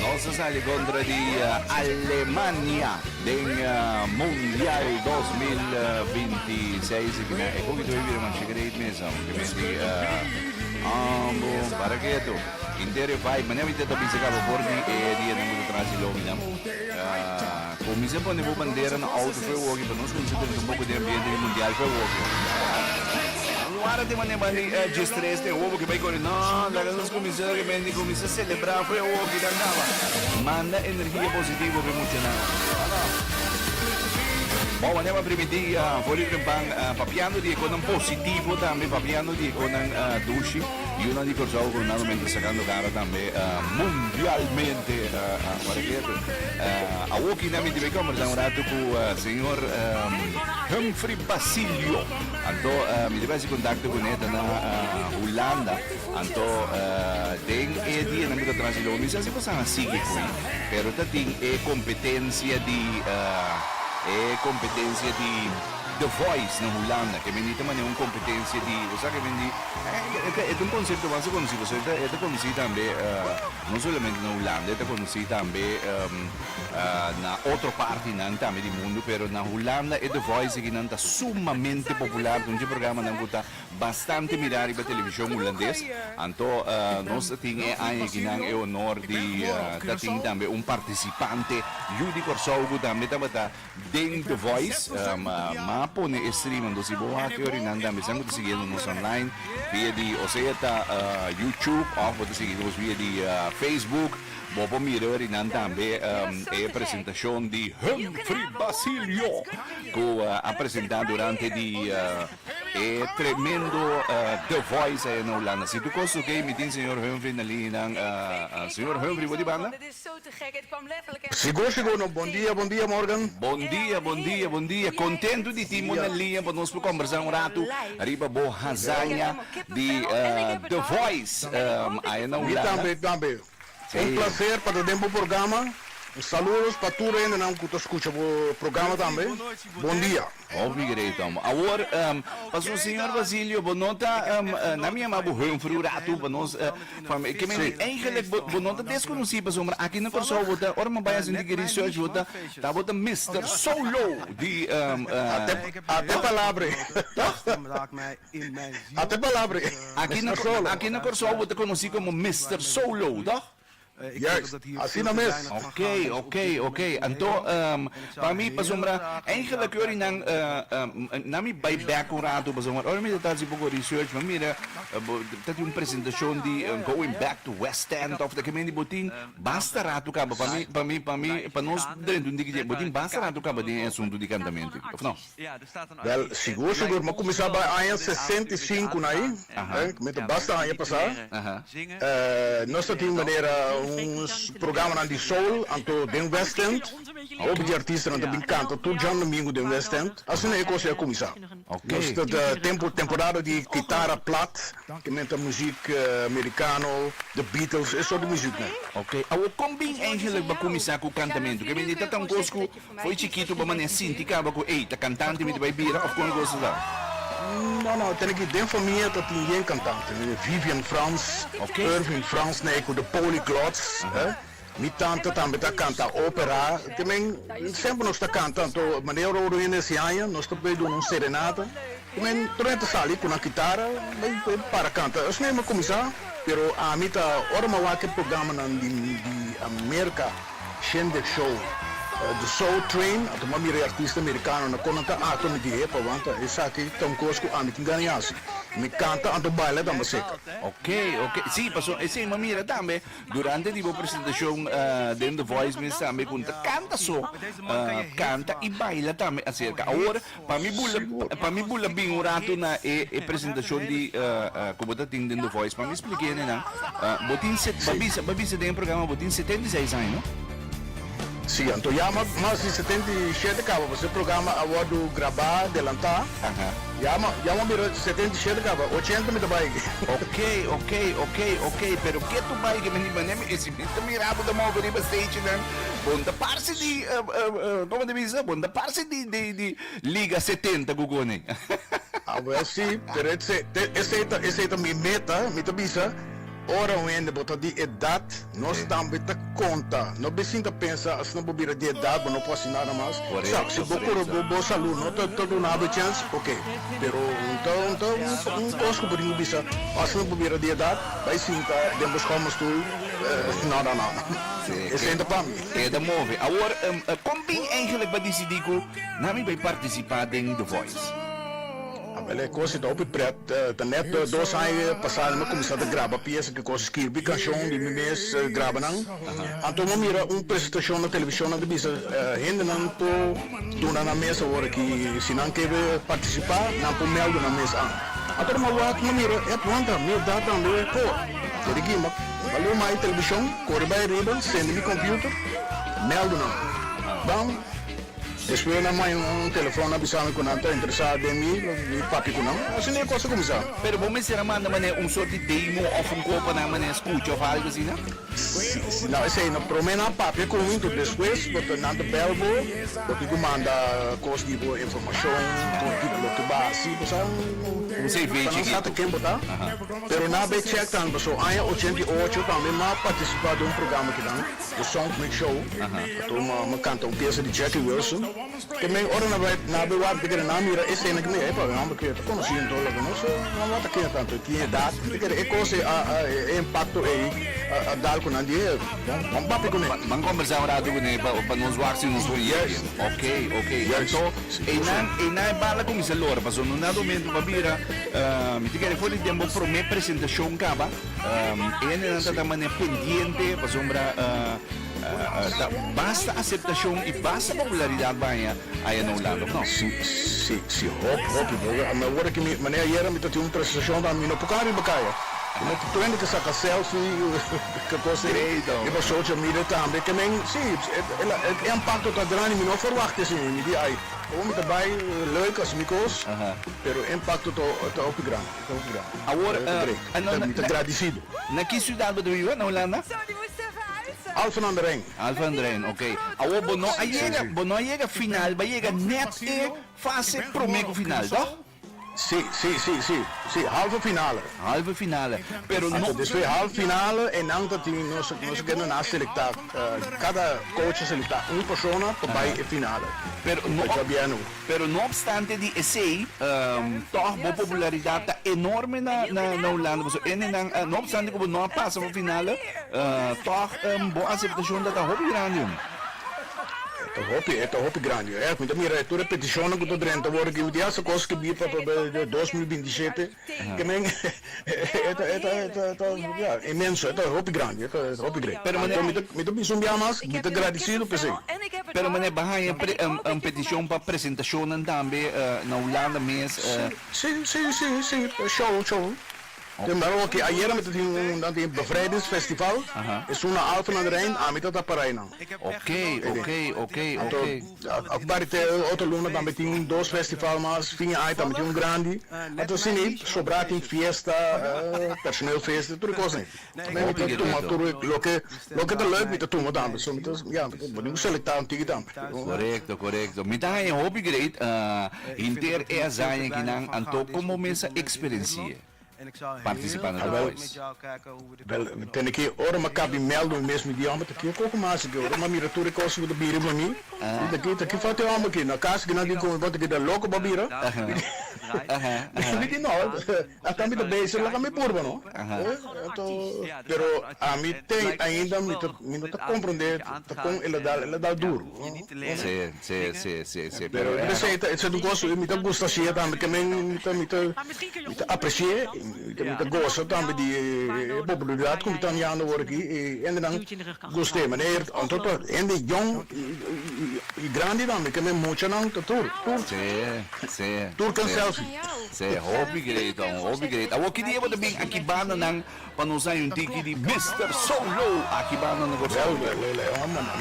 Nos a sali kontra di Alemania den Mundial dos mil binti seis i kibia e pokito ei bira masha great mesa ke menti ambo para ketu inter e vibe manera mi ta bisa kaba for di e dianan ku ta tras'i lobinan. Comins'é pone bo bandera na auto fue woke pa nos comins'é tene tampoco den ambiente di mundial fue woke. Nan wara tin mane bandi G-stress den wobo ke bay kore no laga nos comins'é de repente comins'é celebra fue woke ta caba manda energia positivo pe mucha nan bo mane pa primi dia for di trempan papiando di e conan positivo tambe papiando di e conan dushi. Yunan di Kòrsou ku nan momente sakando kara tambe mundialmente pa regreso. Awoki nan mi tin bai kombersá un ratu ku señor Humphrey Basilio. Anto mi tin bai hasi kontakto ku ne ta na Hulanda. Anto den e dia nan ku ta tras'i lo mi sa si bo sa a sigui ku ei pero ta tin e kompetensia di e kompetensia di The Voice na Hulanda ke bendita manera un kompetensia di bo sa ke bendi E ta e ta un konsepto basta konosí pasobra e ta e ta konosí tambe no solamente na Hulanda e ta konosí tambe na otro partinan tambe di mundu pero na Hulanda e The Voice aki nan ta sumamente popular ta un dje programanan ku ta bastante mirá riba televishon hulandes anto nos a tin e aña aki nan e honor di ta tin tambe un partisipante yu di Kòrsou ku tambe tabata Den The Voice, um, ma pone e streaming. Dus si bo a teorie nan tambe, sa mutu siguiendo nos online via di, o sea ta uh, YouTube of bo ta sigui nos via di uh, Facebook. Bo por mira ori nan tambe um, e presentacion di Humphrey Basilio cu uh, a presenta durante di uh, e tremendo uh, The Voice ayer na Holanda. Si tu kost oké, mi tin señor Humphrey na línea nan. Uh, uh, señor Humphrey, bo di banda? Sigur sigur no. Bon dia bon dia Morgan. Bon dia bon dia bon dia contento di tinbo na liña pa nos por combersa un ratu riba bo hazaña di The Voice aya na Hulanda. Mi tambe mi tambe un placer pa ta den bo programa un saludos pa tur hendenan cu ta scucha bo programa tambe. Bon dia. Obrigadei tomo. Awor, Pastor Señor Basilio, bo no ta, nan mi yama bo Humphrey un ratu pa nos, ke men di eigenlijk bo no ta deskonosí pasobra aki na Kòrsou bo ta, ora mi bai a sinti ki research bo ta, ta bo ta Mister Solo di Ate palabra e. Tòg? Ate palabra e. Aki na Kòrsou bo ta konosí komo Mister Solo, tòg? Juist, asina mes. Ok, ok, ok. Anto, pa mi pasobra eigenlijk ori nan na mi bai bek un rato pasobra ora mi ta ta hasi poko research mi a mira bo ta tin un presentashon di going back to West End of ta kimin di bo tin basta rato kaba pa mi pa mi pa mi pa nos drenta un diki dje bo tin basta rato kaba den e asuntu di kantamentu of no? Wel, sigur sigur, mi a kuminsá bai aña sesenta i sinku na ei, kminta basta aña pasá. Nos ta tin manera un programanan di soul anto den West End. Hopi di artistanan ta bin kanta tur djandomingu den West End. Asina e kos ei a kuminsá. Nos ta den temporada di kitara plat, ku menta muzik merikano, The Beatles, e sort di muziknan. Awor, kon bin Angel a kuminsá ku kantamentu? Ke men di ta ta un kos ku Fo'i chikitu bo manera sinti caba cu ey ta cantante mi ta bay bira of con e cosas la. No no tene ki den famia ta tin yen cantante tene Vivian Frans, Irving Frans na e cu The Polyglots eh mi tanta tambe ta canta opera te men semper nos ta canta to manera Roro yende a hesi aña nos ta bay duna un serenata. Cu e prome ta sali cu nan kitara bay bay para canta esnan e cuminsa pero ami ta ora mi a wak e programanan di di America Shindig Show The Soul Train a tuma mi ri artista Americano nan con nan ta ato mi di epa wanta esaki ta un cos cu ami tin gana yasi mi canta anto baila tambe seker. Ok ok si paso esey mi a mira tambe durante di bo presentacion den The Voice mes tambe cu nan ta canta so canta y baila tambe acerca awor Pa mi bu pa mi bu la bin un ratu na e e presentashon di ku bo ta tin den The Voice pa mi spliké nenan bo tin se bo a bisa bo a bisa den e programa bo tin setenta i seis aña no? Si anto ya mas di setenta i shete kaba pasobra e programa a wòrdu grabá delantá ya ma ya mo mira setenta i shete kaba ochenta mi ta bai. Oke oke oke oke pero ke tu bai ke mi manera mi. Mi ta mira bo ta move riba stage nan bon ta parse di como ta bisa bon ta parse di di liga setenta ku kone. A wel si pero esei ta esei ta mi meta mi ta bisa ora un hende bo ta di edat nos tambe ta konta no bisin ta pensa asina bo bira di edat bo no por haci nada mas sa si bo kuro bo bo salud no ta ta duna bo e chance oke pero un ta un ta un kos ku bo tin ku bisa asina bo bira di edat Bai sinta den bo schomo stoel. No no no e senta pa mi. Keda move. Awor kon tin eigenlik pa disidi ku nan mi bai partisipa den The Voice? Wel e kos i ta hopi prèt. Ta nèt dos aña pasado mi a kuminsá ta graba piesa kikos skirbi kanshon di mi mes graba nan. Anto mi a mira un presentashon na televishon nan ta bisa hendenan por duna nan mes awor aki. Si nan ke partisipá, nan por mèldu nan mes an. Anto mi a wak, mi a mira, ep, wanta, mi a da tambe por. Deri Gima, mi a leu mai televishon, kore bai riba, sendi mi kòmpiuter, mèldu nan. Bam, despues nan mai un telefòn a bisa mi ku nan ta interesá den mi, mi papia ku nan. Asina e kos a kuminsá. Pero bo mester a manda manera un sort di demo òf un kor pa nan manera skucha òf algu asina? Sí, sí, nan esei no prome nan a papia con mi, enton despues bo ta nan ta bel bo, bo tin cu manda cos di bo informacion, con tipo lo ta basi, bo sa, Un CV pasanan chiquito. sa ta ken bo ta, Aha. pero nan a bay check tambe, paso aña ochenta y ocho pa mi m'a participa den un programa kinan, The Soundmix Show, Aha. pato m'a m'a canta un pieza di Jackie Wilson. Tambe ora nan bai na bewar ta kere nan mira e sena ki mi bai pabe mambe ke ta konosi en todo loke no so nan lo a ta kende tanto tin edad mi ta kere e kos e e impacto ei a dal ku nan di e bon ban papi kune. Ban kombersá un ratu kune pa nos wak si nos tur yegi ok ok anto einan einan e bal a kuminsá lora pasobra nos na durmi enton bo a bira mi ta kere for di den bo prome presentashon kaba e hendenan ta ta mane pendiente pasobra. Ta basta aseptashon i basta popularidat baña aya na un lado. No. Si, si, si hop, hopi bo. Mi awor aki mi, manera ayera mi ta tin un presentashon ta mi no por kan riba kaya. Mi no ta prende ke saka selfi, ke kos ei. Riba social media tambe. Ke men, si, e impakto ta grandi, mi no a ferwakta esei. Mi di ai, komo mi ta bai lei kos mi kos, pero e impakto ta hopi grandi. Awor na ki siudat bo ta biba na Hulanda? Alphen on the Rijn ok. Awor bo no a yega bo no a yega final bo a yega net e fase prome ku final toh? Si si si halve finale. Halve finale pero no. Despues halve finale e nan ta tin nos nos kende nan a selecta kada coach a selecta un persona pa bai e finale. Pero no. Pero no opstante di esei, tòg bo popularidat ta enorme na na Hulanda. Pasobra e nenan, no opstante ku bo no a pasa for final, tòg bo aseptashon ta ta hopi grandi, hombre. E ta hopi, e ta hopi grandi. Mi ta mira tur e petishonnan ku ta drenta wòrdu aki, mi di, Hasta kos ke biba pa dos mil binti shete? Ke men inmenso, e ta hopi grandi, e ta hopi great. Pero mi ta mi ta bisa un biaha mas, mi ta gradisido p'esei. Pero mane, bo haña un peticion pa presentacionnan tambe na Hulanda mes? Si, si, si, si, pa show, show. Te mira oke, ayera mi ta tin un nan tin bevrijdingsfestival, esun na Alphen aan den Rijn, ami ta ta para einan. Oké, oké, oké, oké. Aparte otro luna tambe tin dos festival mas, fin di aña tambe tin un grandi, anto asina ei sobrá tin fiesta, personeelfeesten, tur e kos ei. Mi mi ta tuma tur loke loke ta lèk mi ta tuma tambe, so mi ta ya mi ta dibu selektá un tiki tambe. Korekto korekto, mi ta haña hopi great hinter e hazaña kinan, anto kon bo mester eksperensi'e? Participa na Voice. Wel, tene ke ora mi a kapi mèldu mi mes, mi di, Hòmber, ta aki e koko mas aki, ora mi a mira tur e kos ku ta bira riba mi, mi ta aki, ta aki fòt e hòmber aki, na kas aki nan tin komo, mi bon ta aki ta loko pa bira. Mi di, No, ata mi ta beser, laga mi purba no. Pero ami ten ainda, mi no ta komprondé ta kon el a dal, el a dal duru. Sí, sí, sí, sí, pero e Besiña, e ta un kos, mi ta gusta hasié tambe, ke men mi ta mi ta mi ta apresié, mi ta mi ta gosa tambe di e popularidat ku mi ta miando awor aki, e hendenan gust'é maner, anto ta hende yon i grandi tambe, ke men muchanan ta tur, tur, tur ken selfie. Sí, hopi great, hopi great. Awor ki dia bo ta bin aki bandanan? pa nos hay un tiki di Mister Solo aki banda na Gozalvia.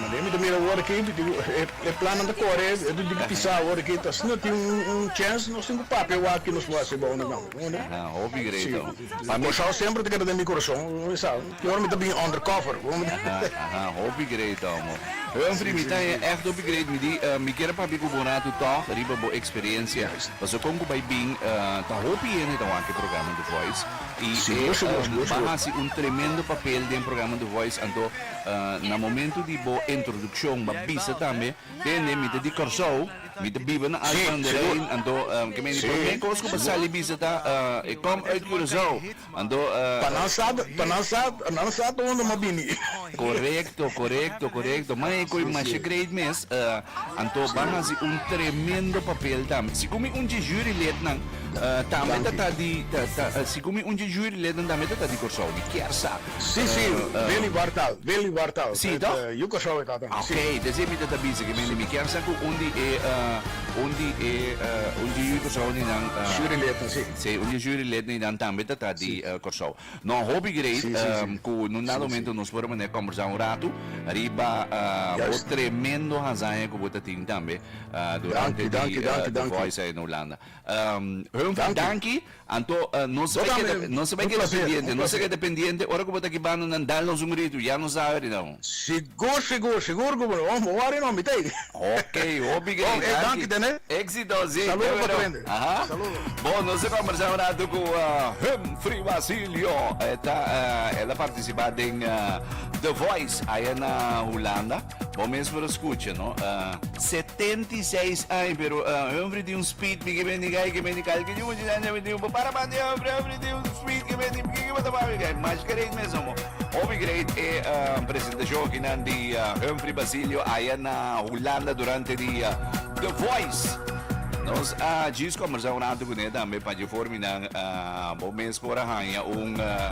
Maneer mi ta mira awor aki e plannan ta kore di di pisa awor aki ta asina tin un chèns nos tin ku papia awaki nos lo hasi abou na gambo konde si pasobra Kòrsou semper ta keda den mi kurason mi sa ki ora mi ta bini under cover konde. Hopi great amo Humphrey mi ta ègt hopi great mi di mi kier a papia ku bo un ratu tòg riba bo eksperensia pasobra kon ku bai bin ta hopi hende ta wak e programa The Voice Y e ba haci un tremendo papel den programa The Voice anto na momento di bo introduccion ba bisa tambe tende mi ta di Corsou mi ta biba na Alphen aan de Rijn anto ke men di prome cos cu ba sali bisa ta e com uit Curacao anto pa nan sa pa nan sa pa nan sa ta unda m'a bini Corecto corecto corecto man e coi masha great mes anto ba haci un tremendo papel tambe si cu mi un dje jury lid nan. Uh, tambe ta ta di ta, ta, uh, si kumi un di jury leden tambe ta ta di Corsou di kersa. Si si, uh, ben libar tal, ben libar tal. Si to. Yu Corsou ta ta. Okay, desi mi ta ta bisa ke mi mi kersa ku un di e uh, un di e uh, un di Yu Corsou ni dan uh, jury leden si. Si, un di jury leden ni dan tambe ta ta di uh, Corsou. No hopi great si, si, um, ku nun dado momento nos por mané conversa un rato riba uh, bo tremendo hazaña ku bo ta tin tambe uh, durante dankie, dankie, dankie, dankie. The Voice in Holanda. Hun ta danki, anto nos ta keda, nos ta keda pendiente, nos ta keda pendiente ora ku bo ta aki banda nan dal nos un gritu, ya nos a weri nan. Sigur, sigur, sigur ku bo lo bo wari no mitei. Ok, hopi grei, danki. Danki tene. Exito, si. Saludo pa trende. Saludo. Bon, nos a kombersá un ratu ku Humphrey Basilio, e ta, el a partisipa den The Voice aya na Hulanda. Bo mes por a scucha, no? Uh, 76 años, pero uh, hombre de un speed, porque ben diga que ben diga que yo ya ya digo, para para de hombre, hombre de un speed que ben diga que va tomar que más que rey mesmo. Obi great e uh, presentación que nan di uh, Humphrey Basilio allá na Holanda durante di uh, The Voice. Nos a uh, gis conversar un rato con él también para yo forminar uh, bo mes por a hanya un uh,